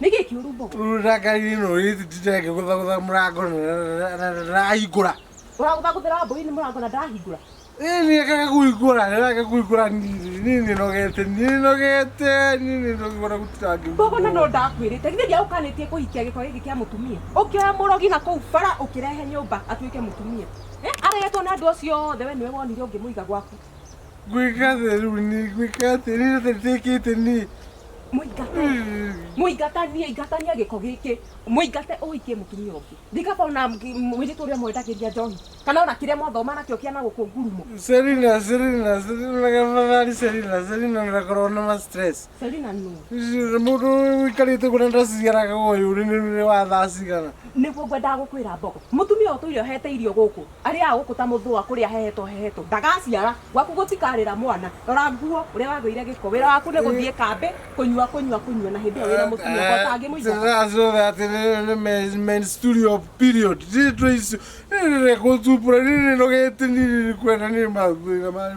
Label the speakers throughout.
Speaker 1: nĩkĩ kĩũru mbogo rũragari no rĩtitĩte ngĩgũthagũtha mũrango rahingũra ũragũthagũthĩra mbũi nĩ mũrango na ndahingũra nini kaka kuigura kaka kuigura nini nini nogete nini nogete nini nogora gutangi bogo na no ndakwirite githe dia ukanitie kuhikia giko giki kia mutumia ukioya murogi na kuu bara ukirehe nyumba atuike mutumia eh aregetwo na ndu cio othe we niwe wonire ungimuiga gwaku gwĩka theru ni gwĩka atĩrĩ rĩothe rĩtĩkĩte ni mũingate mũingatanie ingatania gĩko gĩkĩ mũingate ũhikie mũtumia ũngĩ ndikaba ona mwĩrĩtu ũrĩa mwendagĩria njohi kana ona kĩrĩa mwathoma nakĩo kĩana gũkũ ngurumo Selina Selina Selina gafadhali Selina Selina ndakorwo na ma stress Selina nũ mũndũ ũikarĩte ũguo na ndaciaraga ũyũ nĩ nĩ wa thaa cigana nĩguo ngwendaga gũkwĩra mbogo mũtumia ũyũ tũire ohete irio gũkũ Arĩaga gũkũ ta mũthũa kũrĩa ahehetwo hehetwo. Ndagaciara. Gwaku gũtikarĩra mwana. Rora nguo, ũrĩa wagũire gĩko. Wĩra waku nĩ gũthiĩ kambĩ, kũnyua, kũnyua, kũnyua, na hĩndĩ ĩyo wĩna mũtumia ũmwe ũtangĩmũingata. Sasa so that ni men- menstrual period rito icio nirire kuthubura nirinogetini nirikwenda niri mathina mari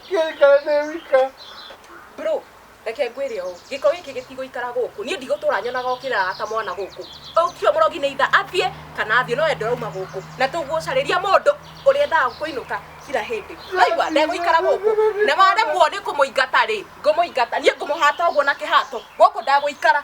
Speaker 1: Ngĩikara ndĩ wika. Bro, reke ngwĩre ũũ, gĩko gĩkĩ gĩtigũikara gũkũ. Niĩ ndigũtũra nyonaga ũkĩrara ta mwana gũkũ. Ũcio mũrogi nĩ either athiĩ kana athiĩ no we ndũrauma gũkũ. Na tũgucarĩria mũndũ ũrĩa endaga kũinũka kira hĩndĩ. Waigua, ndegũikara gũkũ. Na waremwo nĩ kũmũingata-rĩ, ngũmũingata. Niĩ ngũmũhata ũguo na kĩhato. Gũkũ ndegũikara.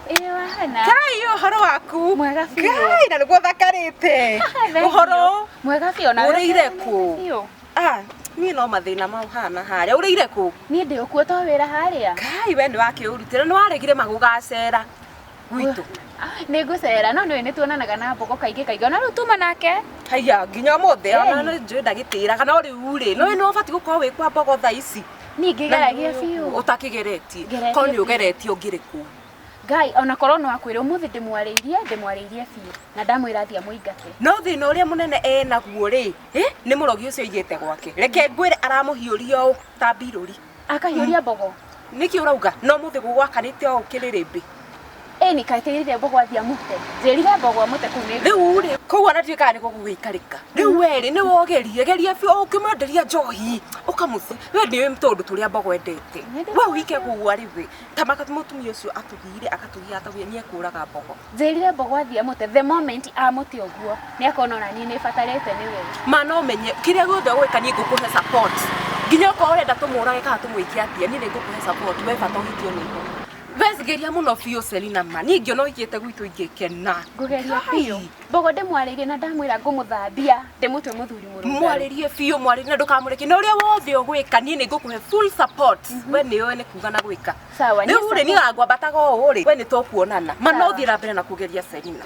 Speaker 1: Ĩĩ wahana. Kai ũhoro waku? Mwega biũ. Kai na nĩguo thakarĩte. Thank you. Ũhoro? Mwega biũ na Ũrĩire kũ? Biũ. Ah, niĩ no mathĩna mau hana harĩa. Ũrĩire kũ? Niĩ ndĩ ũkuo to wĩra harĩa. Kai we nĩ wakĩũrutĩra nĩ waregire magũgacera gwitũ. Nĩ ngũcera no nĩ tuonanaga na mbogo kaingĩ kaingĩ. Ona rĩu tuma nake. Haiya nginya ũmũthĩ ona Hey. nĩ njũĩ ndagĩtĩraga no rĩu rĩ, nĩ ũbatiĩ gũkorwo wĩ kwa mbogo thaa ici. Niĩ ngĩgeragia biũ. ũtakĩgeretie Ngeretie korwo nĩ biũ. ũgeretie ũngĩrĩ kũu Ngai ona korwo no akwĩra ũmũthĩ ndĩmwarĩirie ndĩmwarĩirie biũ na ndamwĩra athiĩ amũingate. no thĩna ũrĩa mũnene e naguo rĩ ĩ, nĩ mũrogi ũcio aigĩte gwake reke ngwĩre aramũhiũria ũũ ta mbirũri Akahiũria mbogo. nĩkĩ ũrauga no mũthĩ gũgwakanĩte o ũkĩrĩ rĩmbĩ Ĩni kaĩ tĩrire mbogwa thia mũte. Njĩrire mbogwa mũte kũu nĩ. Rĩu rĩ, kũu anatuĩ kana nĩkuo gũgĩikarĩka. Rĩu we rĩ, nĩ wogerie, geria biũ o ũkĩmwenderia njohi, ũkamũte. We nĩ tũũndũ tũrĩa mbogo endete. We ũike gũgwa rĩ we. Ta mũtumia ũcio atũgiire agatũgia atũgia nĩ ekũraga mbogo. Njĩrire mbogwa thia mũte, the moment amũte ũguo, nĩ akona ona niĩ nĩ batarĩte nĩ we. Ma no menye, kĩrĩa gĩothe ũgwĩka niĩ ngũkũhe support. Nginya okorwo ũrenda tũmũrage kana tũmwĩke atĩa, niĩ nĩ ngũkũhe support, we bata ũhikio nĩ mbogo. wesigeria muno biũ Selina ma niĩ ingĩona ũigĩte gwitũ ingĩkena ngũgeria biũ mbogo ndĩmwarĩrie na ndamwĩra ngũmũthambia ndĩmũtwe mũthuri mũrũngaru mwarĩrie biũ mwarĩrie na ndũkamũreke na ũrĩa wothe ũgwĩka niĩ nĩ ngũkũhe full support we nĩ ũĩ nĩ kuga na gwĩka Sawa, niĩ rĩu rĩ niĩ ngwambataga ũũ rĩ we nĩ tũkuonana mana Sawa. ũthiĩ na mbere na kũgeria Selina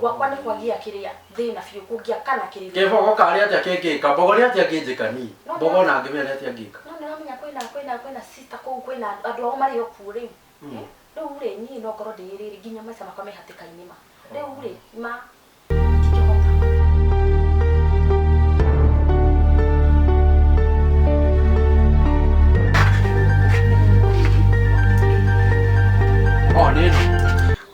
Speaker 1: Gwakwa nĩ kwagĩa kĩrĩa thĩna biũ kũngĩaka na kĩrĩro. Kĩbogo karĩ atĩa kĩngĩka? Mbogo nĩ atĩa angĩnjĩka niĩ? No, Mbogo no. ona angĩmenya nĩ atĩa angĩka? No nĩ ũramenya kwĩna kwĩna kwĩna sister kũu kwĩna andũ- andũ ao marĩ o kuo rĩu. Mm. Eh, Rĩu rĩ niĩ no ngorwo ndĩĩrĩrĩ nginya maica makwa me hatĩka-inĩ ma. Rĩu rĩ ma matingĩhota. O nĩ ĩno.